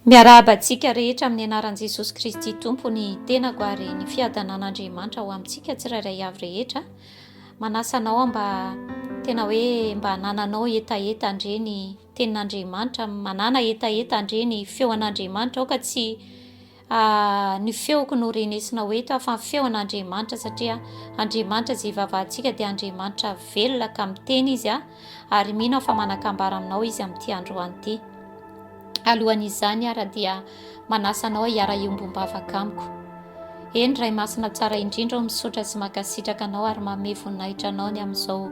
Miarahaba antsika rehetra amin'ny anaran'i Jesosy Kristy Tompo ny tenako ary ny fiadanan'Andriamanitra ho amintsika tsirairay avy rehetra. Manasa anao mba tena hoe mba hanananao hetaheta andre ny tenin'Andriamanitra, manana hetaheta andre ny feon'Andriamanitra aoka tsy A, ny feoko no renesina ho eto aho fa ny feo an' Andriamanitra satria Andriamanitra izay ivavahantsika dia Andriamanitra velona ka miteny Izy a, ary mino aho fa manakambara aminao Izy amin'ity androany ity. Alohan' izany ara dia manasa anao hiara-hiombom-bavaka amiko. Eny, Ray Masina tsara indrindra ô, misaotra sy mankasitraka Anao ary manome voninahitra Anao ny amin'izao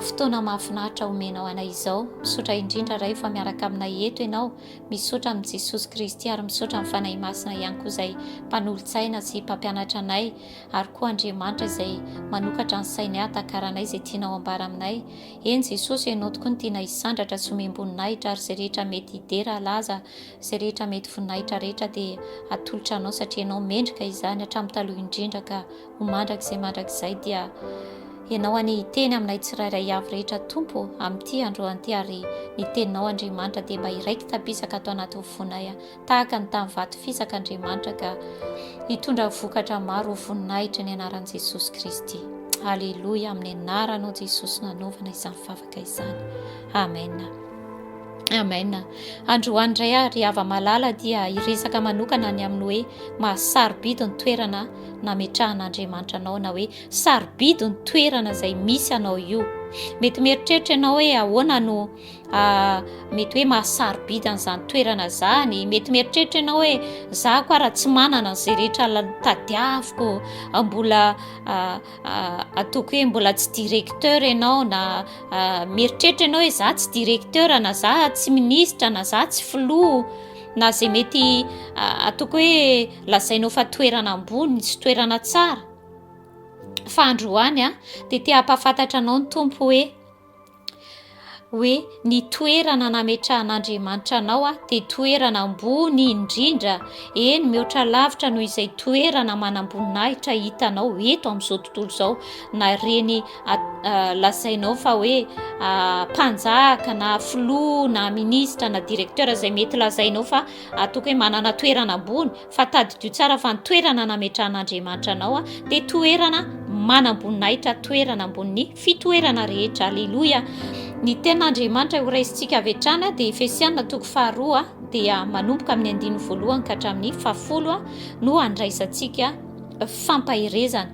fotoana mahafinaritra omenao anay izao. Misaotra indrindra Ray fa miaraka aminay eto Ianao. Misaotra amin'i Jesosy Kristy ary misaotra amin'ny Fanahy Masina ihany koa izay mpanolo-tsaina sy mpampianatra anay ary koa Andriamanitra izay manokatra ny sainy hahatakaranay izay tianao ambara aminay. Eny Jesosy, ianao tokoa no tiana hisandratra sy homem-boninahitra ary izay rehetra mety hidera halaza, izay rehetra mety voninahitra rehetra dia atolotra anao satria ianao mendrika izany hatramin'ny taloha indrindra ka Ho mandrakizay mandrakizay dia Ianao anie hiteny aminay tsirairay avy rehetra Tompo amin'ity androany ity ary ny teninao Andriamanitra dia mba iraiky tabisaka ato anatin'ny fonay tahaka ny tamin'ny vato fisaka Andriamanitra ka hitondra vokatra maro ho voninahitra ny anaran'i Jesosy Kristy. Aleloia amin'ny anaranao Jesosy nanaovana izany vavaka izany. Amen. Amen. Androany indray ary hava malala dia hiresaka manokana ny amin'ny hoe mahasarobidy ny toerana nametrahan'Andriamanitra anao na hoe sarobidy ny toerana izay misy anao io. Mety mieritreritra ianao hoe ahoana no ah, mety hoe mahasarobidy an'izany toerana izany. Mety mieritreritra ianao hoe za koa raha tsy manana an'izay rehetra tadiaviko, ah, mbola ah, ah, ataoko hoe mbola tsy directeur ianao na ah, mieritreritra ianao hoe za tsy directeur na za tsy ministra na za tsy filoha na izay mety ah, ataoko hoe Lazainao fa toerana ambony sy toerana tsara, fa androany a, dia te hampafantatra anao ny Tompo hoe, hoe ny toerana nametrahan'Andriamanitra anao a, dia toerana ambony indrindra, eny mihoatra lavitra noho izay toerana manamboninahitra hitanao eto amin'izao tontolo izao, na ireny lazainao fa hoe mpanjaka na filoha na minisitra na directeur izay mety lazainao fa Ataoko hoe manana toerana ambony, fa tadidio tsara fa ny toerana nametrahan'Andriamanitra anao dia toerana manam-boninahitra, toerana ambonin'ny fitoerana rehetra. Aleloia! Ny tenin'Andriamanitra horaisintsika avy hatrany dia Efesiana toko faharoa dia manomboka amin'ny andininy voalohany ka hatramin'ny fahafolo no andraisantsika fampaherezana.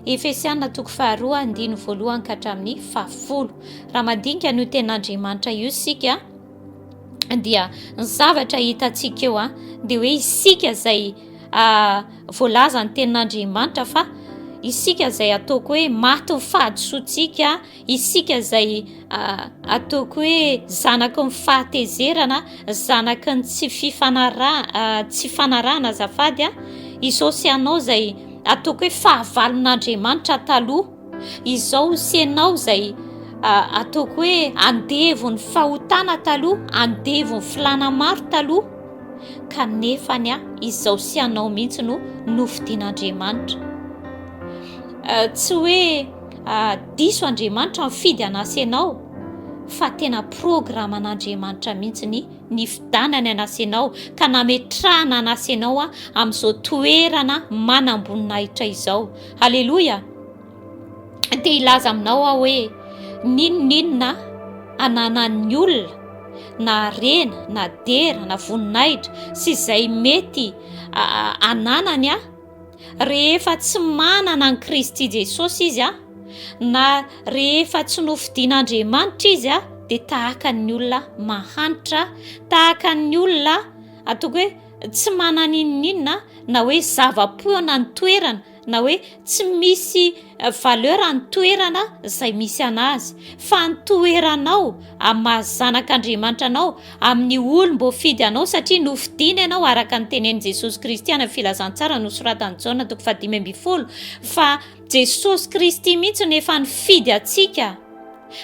Efesiana toko faharoa andininy voalohany ka hatramin'ny fahafolo. Raha mandinika an'io tenin'Andriamanitra io isika, dia ny zavatra hitantsika eo a dia hoe isika izay voalaza ny tenin'andriamanitra fa isika izay ataoko hoe maty ny fahadisoantsika isika izay ataoko hoe zanaky ny fahatezerana zanaky ny tsy fifanara tsy fanarahana zafady a izao sy anao izay ataoko hoe fahavalon'andriamanitra taloha Izao sy ianao izay ataoko hoe andevo ny fahotana taloha, andevo ny filana maro taloha, kanefa ny ahy izao sy ianao mihitsy no nofidian'Andriamanitra. Tsy hoe diso Andriamanitra mifidy an'ahy sy ianao, fa tena programan'Andriamanitra mihitsy ny nifidanany an'ahy sy ianao ka nametrahana an'ahy sy ianao amin'izao toerana manam-boninahitra izao. Aleloia! Te hilaza aminao aho hoe n'inon'inona ananan'ny olona na harena na dera na voninahitra sy izay mety ananany a rehefa tsy manana an'i Kristy Jesosy izy a na rehefa tsy nofidin'Andriamanitra izy a dia tahaka ny olona mahantra tahaka ny olona atoko hoe tsy manana inon'inona na hoe zava-poana ny toerana na hoe tsy misy eh, valeur ny toerana izay misy anazy fa ny toeranao amin'ny maha zanak'Andriamanitra anao amin'ny olom-boafidy anao satria nofidina ianao araka ny tenen'i Jesosy Kristy ana filazantsara nosoratan'i Jaona toko fahadimy ambin'ny folo fa Jesosy Kristy mihitsy no efa nifidy antsika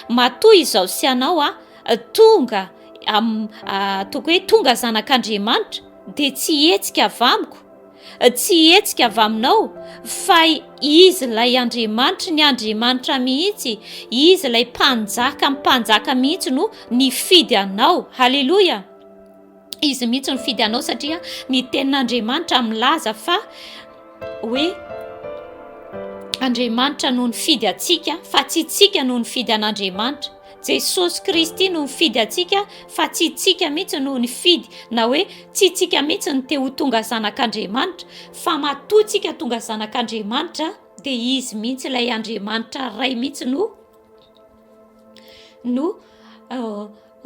matoa izao sy anao a ah, Tonga am ataoko hoe tonga zanak'Andriamanitra dia tsy hetsika avy amiko, tsy hetsika avy aminao, fa Izy ilay Andriamanitry ny Andriamanitra mihitsy, Izy ilay Mpanjaka mpanjaka mihitsy no nifidy anao. Haleloia! Izy mihitsy nifidy anao satria ny tenin'Andriamanitra milaza fa hoe Andriamanitra no nifidy antsika fa tsy tsika no nifidy an'Andriamanitra. Jesosy Kristy no nifidy antsika fa tsy tsika mihitsy no nifidy na hoe tsy tsika mihitsy ny te ho tonga zanak'Andriamanitra fa matoa tsika tonga zanak'Andriamanitra dia izy mihitsy ilay Andriamanitra ray mihitsy no no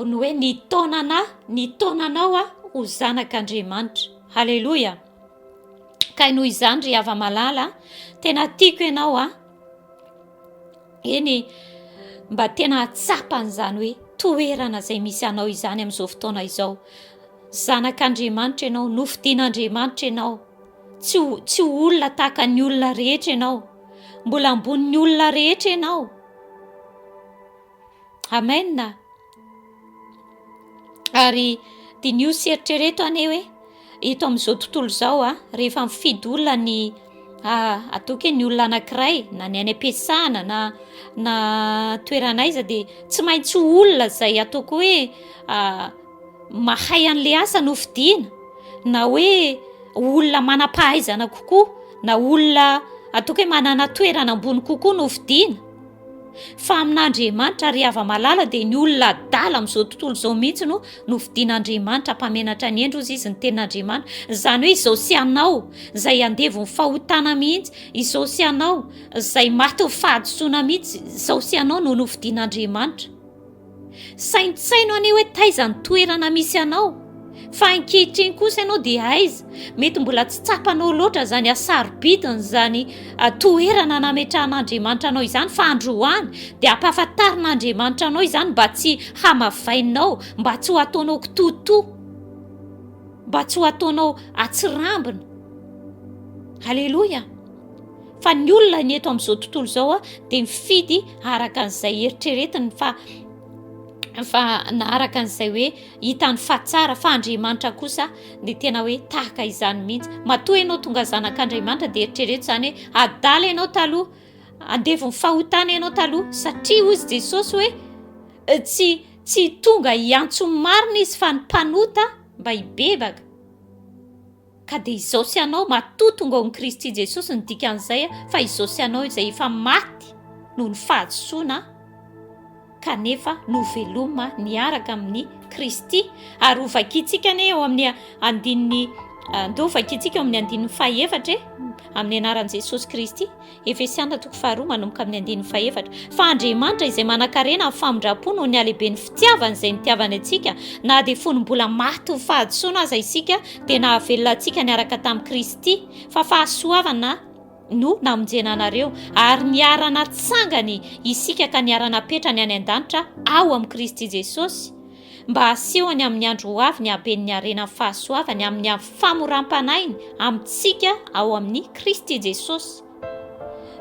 ny hoe ny taonana ny taonanao aho ho zanak'Andriamanitra haleloia kay noho izany ry hava malala tena tiako ianao aho eny mba tena hatsapan'izany hoe toerana izay misy anao izany amin'izao fotoana izao zanak'Andriamanitra ianao nofidin'Andriamanitra ianao tsy tsy olona tahaka ny olona rehetra ianao mbola ambonin'ny olona rehetra ianao Amen. Ary diniho sy eritrereto anie hoe eto amin'izao tontolo izao a, rehefa mifidy olona ny ataoko hoe ny olona anankiray na ny any am-piasana na na toerana aiza dia tsy maintsy ho olona izay ataoko hoe mahay an'ilay asa no fidiana na hoe olona manam-pahaizana kokoa na olona ataoko hoe manana toerana ambony kokoa no fidiana fa amin'andriamanitra ry hava malala dia ny olona adala amin'izao tontolo izao mihitsy no no fidian'andriamanitra mpamenatra ny endry ozy izy ny ten'andriamanitra izany hoe izao sy anao izay andevo ny fahotana mihitsy izao sy anao izay maty ny fahadisoana mihitsy izao sy anao no no fidian'andriamanitra Saintsaino anie hoe taiza ny toerana misy anao, fa ankehitriny kosa ianao dia aiza? Mety mbola tsy tsapanao loatra izany hasarobidin' izany toerana nametrahan' Andriamanitra anao izany, fa andro ho any dia hampahafantarin' Andriamanitra anao izany mba tsy hamavainao, mba tsy ho ataonao kitoatoa, mba tsy ho ataonao atsirambina. Aleloia! Fa ny olona ny eto amin'izao tontolo izao dia mifidy araka an'izay heritreretiny fa fa na araka an'izay hoe hitany fa tsara fa Andriamanitra kosa dia tena hoe tahaka izany mihitsy. Matoa ianao tonga zanak'Andriamanitra dia eritrereto izany hoe adala ianao taloha, andevon'ny fahotana ianao taloha satria hoy izy Jesosy hoe eh, tsy tsy tonga hiantso marina izy fa ny mpanota mba hibebaka. Ka dia izao sy anao matoa tonga ao amin'i Kristy Jesosy ny dikan'izay fa izao sy anao izay efa maty noho ny fahadisoana kanefa noveloma niaraka amin'i Kristy ary ho vakintsika anie ao amin'ny andininy andeo vakintsika ao amin'ny andininy fahaefatra e amin'ny anaran'i Jesosy Kristy Efesiana toko faharoa manomboka amin'ny andininy fahefatra, fa Andriamanitra izay manan-karena amin'ny famindram-po noho ny halehiben'ny fitiavany izay nitiavany antsika, na dia fony mbola maty ho fahadisoana aza isika, dia nahavelona antsika niaraka tamin'i Kristy, fa fahasoavana no namonjena anareo, ary niara-natsangany isika ka niara-napetrany any an-danitra ao amin'i Kristy Jesosy. mba hasehony amin'ny andro ho avy ny haben'ny harenan'ny fahasoavany amin'ny famoram-panahiny amintsika ao amin'i Kristy Jesosy,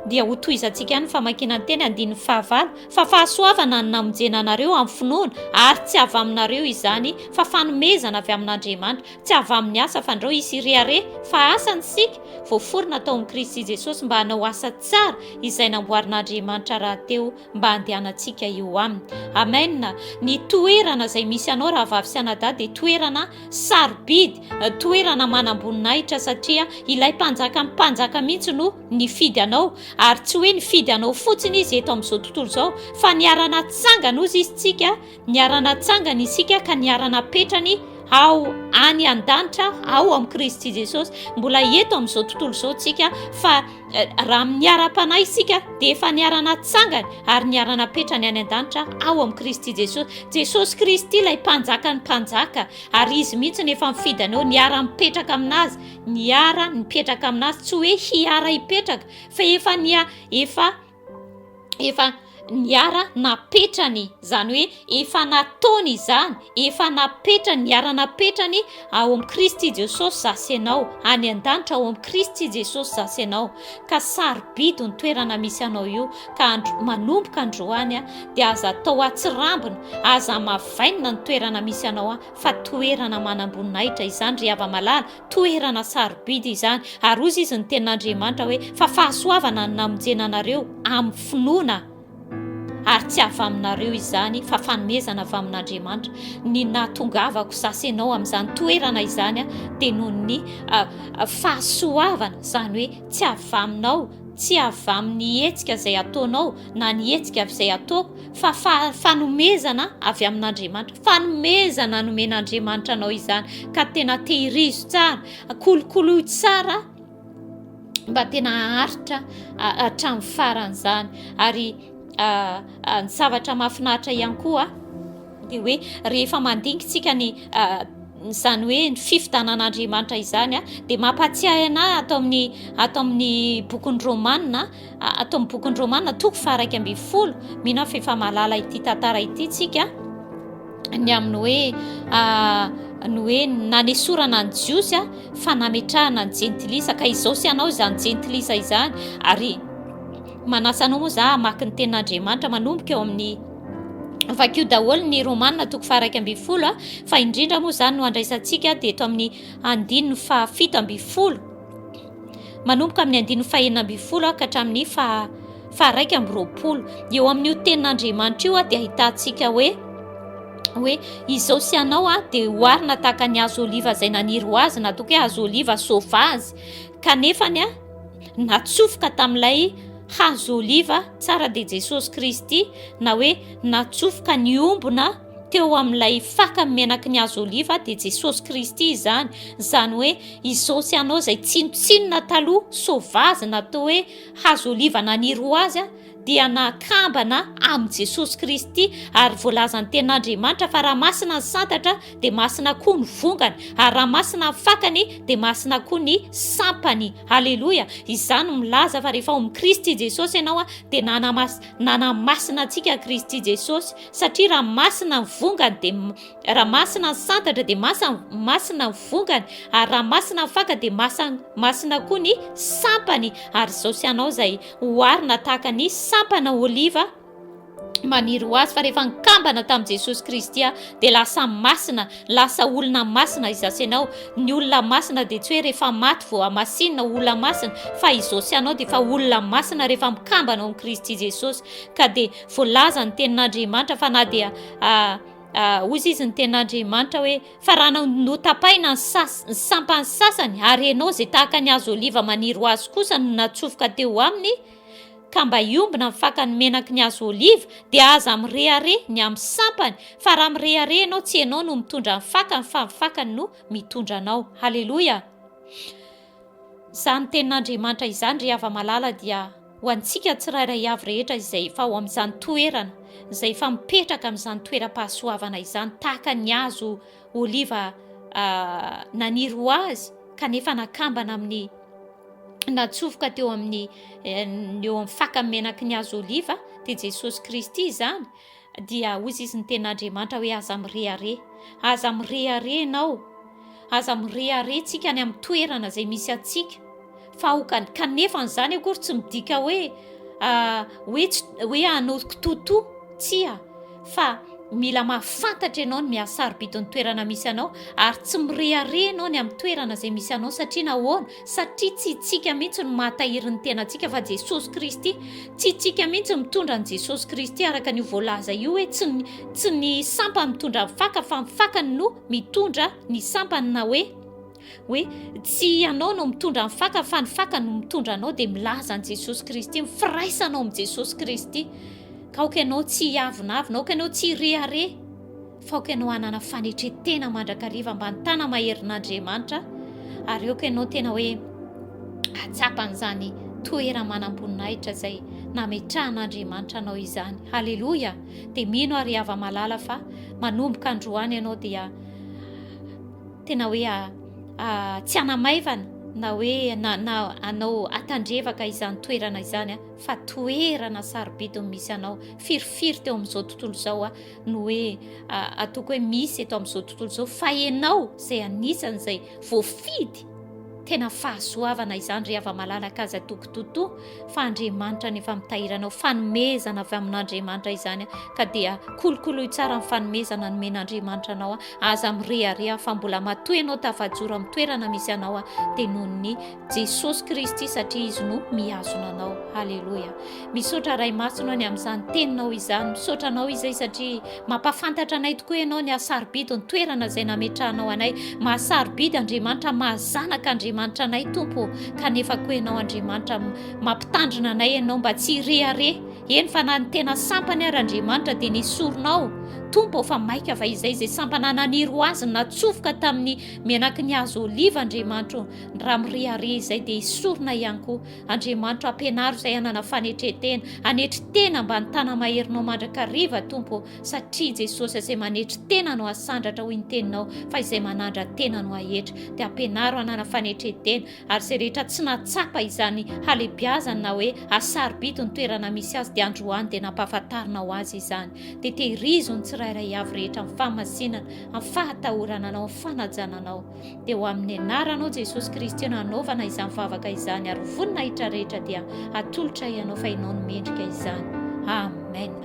dia hotohizantsika ihany ny famakiana ny teny andininy fahavalo, fa fahasoavana ny namonjena anareo amin'ny finoana, ary tsy avy aminareo izany, fa fanomezana avy amin'Andriamanitra, tsy avy amin'ny asa, fa ndrao hisy hirehareha, fa asa ny isika, voaforona tao amin'i Kristy Jesosy mba hanao asa tsara izay namboarin'Andriamanitra rahateo mba handehanantsika eo aminy. Amen. Ny toerana izay misy anao rahavavy sy anadahy dia toerana sarobidy, toerana manam-boninahitra satria ilay mpanjaka mpanjaka mihitsy no nifidy anao ary tsy hoe nifidy anao fotsiny izy eto amin'izao tontolo izao fa niara-natsangana hozy izy tsika Niara-natsangany isika ka niara-napetrany ao any an-danitra ao amin'i Kristy Jesosy. Mbola eto amin'izao tontolo izao tsika fa eh, raha miara-panahy isika dia efa niara-natsangany ary niara-napetrany any an-danitra ao amin'i Kristy Jesosy. Jesosy Kristy ilay mpanjaka ny mpanjaka ary izy mihitsy ny efa mifidy anao niara-mipetraka aminazy, niara-nipetraka aminazy, tsy hoe hiara-hipetraka fa efa nia efa efa niara napetrany izany hoe efa nataony izany efa napetrany niara napetrany ao amin'i kristy jesosy za sy ianao any an-danitra ao amin'i kristy jesosy za sy ianao ka sarobidy ny toerana misy anao io ka andro manomboka androany a dia aza atao atsirambina aza mavainina ny toerana misy anao a fa toerana manamboninahitra izany ry hava malala Toerana sarobidy izany, ary hoy izy ny tenin'Andriamanitra hoe, fa fahasoavana ny namonjena anareo amin'ny finoana, ary tsy avy aminareo izany, fa fanomezana avy amin'Andriamanitra, ny nahatongavako za sy ianao amin'izany toerana izany dia noho ny fahasoavana, izany hoe tsy avy aminao, tsy avy amin'ny hetsika izay ataonao na ny hetsika avy izay ataoko, fa fa fanomezana avy amin'Andriamanitra fanomezana nomen'Andriamanitra anao izany ka tena tehirizo tsara kolokoloy tsara mba tena haharitra hatramin'ny faran'izany ary ny zavatra mahafinaritra ihany koa dia hoe rehefa mandingintsika ny izany hoe ny fifidanan'Andriamanitra izany dia mampahatsiahy anah ato amin'ny ato amin'ny bokin'ny romanina Ato amin'ny bokin'i Romana toko faharaika ambin'ny folo, mino aho fa efa mahalala ity tantara ity tsika, ny amin'ny hoe ah, ny hoe nanesorana ny jiosy ah, fa nametrahana ny jentilisa ka izao sy anao izany jentilisa izany ary manasa anao moa za hamaky ny tenin'Andriamanitra manomboka eo amin'ny vakio daholo ny romana toko faharaika ambin'ny folo ah, fa indrindra moa izany no andraisantsika dia eto amin'ny andininy fahafito ambin'ny folo manomboka amin'ny andininy fahena ambin'ny folo ka hatramin'ny faha faharaika amby roapolo eo amin'io tenin'Andriamanitra io dia ahitantsika hoe hoe izao sy anao aho dia hoarina tahaka ny hazo oliva izay naniry ho azy na toa hoe hazo oliva sauvage kanefa ny ahy natsofoka tamin'ilay hazo oliva tsara dia Jesosy Kristy na hoe natsofoka ny ombona teo amin'ilay faka ny menaky ny azo oliva dia Jesosy Kristy izany, izany hoe izao sy anao izay tsinontsinona taloha sovazy na toa hoe hazo oliva naniry ho azy a, dia nakambana amin'i Jesosy Kristy ary voalazan'ny tenin'Andriamanitra fa raha masina ny santatra dia masina koa ny vongany ary raha masina ny fakany dia masina koa ny sampany. Aleloia! Izany milaza fa rehefa ao amin'i Kristy Jesosy ianao dia nanamasina antsika Kristy Jesosy satria raha masina ny vongany dia raha masina ny santatra dia masa masina ny vongany ary raha masina ny faka dia masa masina koa ny sampany ary izao sy anao izay hoarina tahaka ny sampana oliva maniry ho azy fa rehefa nikambana tamin'i jesosy kristy a dia lasa masina lasa olona masina izasy ianao ny olona masina dia tsy hoe rehefa maty vo amasinina olona masina fa izao sy anao dia efa olona masina rehefa mikambana ao amin'i kristy jesosy ka dia Voalaza ny tenin'Andriamanitra fa na dia hoy izy izy ny tenin'Andriamanitra hoe fa raha notapaina ny sas ny sampany sasany ary ianao izay tahaka ny azo oliva maniry ho azy kosa no natsofoka teo aminy ka mba hiombina ny fakany menaky ny azo oliva dia aza mirehare ny amin'ny sampany fa raha mirehare ianao tsy ianao no mitondra ny fakany fa ny fakany no mitondra anao haleloia Izany tenin'Andriamanitra izany, ry hava-malala, dia ho antsika tsirairay avy rehetra izay efa ao amin'izany toerana, izay efa mipetraka amin'izany toeram-pahasoavana izany, tahaka ny hazo oliva naniry ho azy kanefa nakambana amin'ny natsofoka teo amin'ny eh, ny eo amin'ny faka menaky ny hazo oliva, dia Jesosy Kristy izany, Dia hoy izy ny tena Andriamanitra hoe aza mirehareha. Aza mirehareha ianao. Aza mirehareha tsika any amin'ny toerana izay misy antsika. Fa ho ka- kanefa an'izany akory tsy midika hoe ah, hoe tsy hoe hanao kitotoa. Tsia. Fa mila mahafantatra ianao ny miha-sarobidy ny toerana misy anao ary tsy mirehareha ianao ny amin'ny toerana izay misy anao satria nahoana? Satria tsy itsika mihitsy no mahatahiry ny tenantsika fa Jesosy Kristy. Tsy itsika mihitsy no mitondra an'i Jesosy Kristy araka an'io voalaza io hoe tsy ny, tsy ny sampany mitondra ny faka fa ny fakany no mitondra ny sampany na hoe hoe tsy ianao no mitondra ny faka fa ny faka no mitondra anao dia milaza an'i Jesosy Kristy ny firaisanao amin'i Jesosy Kristy ka aoka ianao tsy hiavonavona, aoka ianao tsy hirehareha. Faoka ianao hanana fanetren-tena mandrakariva mba nitana maherin'Andriamanitra ary aoka ianao tena hoe hatsapa an'izany toera-manam-boninahitra izay nametrahan'Andriamanitra anao izany. Haleloia! Dia mino ary hava malala fa manomboka androany ianao dia tena hoe ah, ah, tsy hanamaivana na hoe na, na anao atandrevaka izany toerana izany ah, fa toerana sarobidiny misy anao firifiry teo amin'izao tontolo izao ah, no hoe ataoko hoe misy eto amin'izao tontolo izao fa ianao izay anisan'izay voafidy tena fahasoavana izany ry hava-malalaka aza toko toto fa andriamanitra ny efa mitahiranao fanomezana avy amin'andriamanitra izany ka dia kolokoloy tsara ny fanomezana nomen'andriamanitra anao a aza mirehareha fa mbola matoa ianao tafajoro amin'ny toerana misy anao a dia noho ny Jesosy Kristy satria Izy no mihazona anao. Haleloia. Misaotra Ray Masina any amin'izany teninao izany. Misaotra anao izay satria mampafantatra anay tokoa ianao ny hasarobidy ny toerana izay nametrahanao anay. Mahasarobidy Andriamanitra, mahazanaka Andriamanitra anay Tompo, kanefa koa ianao Andriamanitra mampitandrina anay ianao mba tsy hirehareha. Eny fa na ny tena sampany ary Andriamanitra dia nesorinao. Tompo fa maika fa izay izay sampana naniry ho azy natsofoka tamin'ny menaky ny hazo oliva Andriamanitra. Raha mirehareha izay dia esorina ihany koa. Andriamanitro ampianaro izay hanana fanetren-tena. Anetry tena mba ny tana-maherinao mandrakariva Tompo ô, satria i Jesosy izay manetry tena no hasandratra hoy ny teninao fa izay manandra tena no hahetra. Dia ampianaro hanana fanetren-tena ary izay rehetra tsy nahatsapa izany halebiazany na hoe hasarobidy ny toerana misy azy dia androany dia nampahafantarinao azy izany. Dia tehirizo ny tsirairay avy rehetra amin'ny fahamasinana, amin'ny fahatahorana anao, amin'ny fanajana anao. dia ho amin'ny anaranao Jesosy Kristy no hanaovana izany vavaka izany ary voninahitra rehetra dia hatolotra ianao fa ianao no mendrika izany. Amen.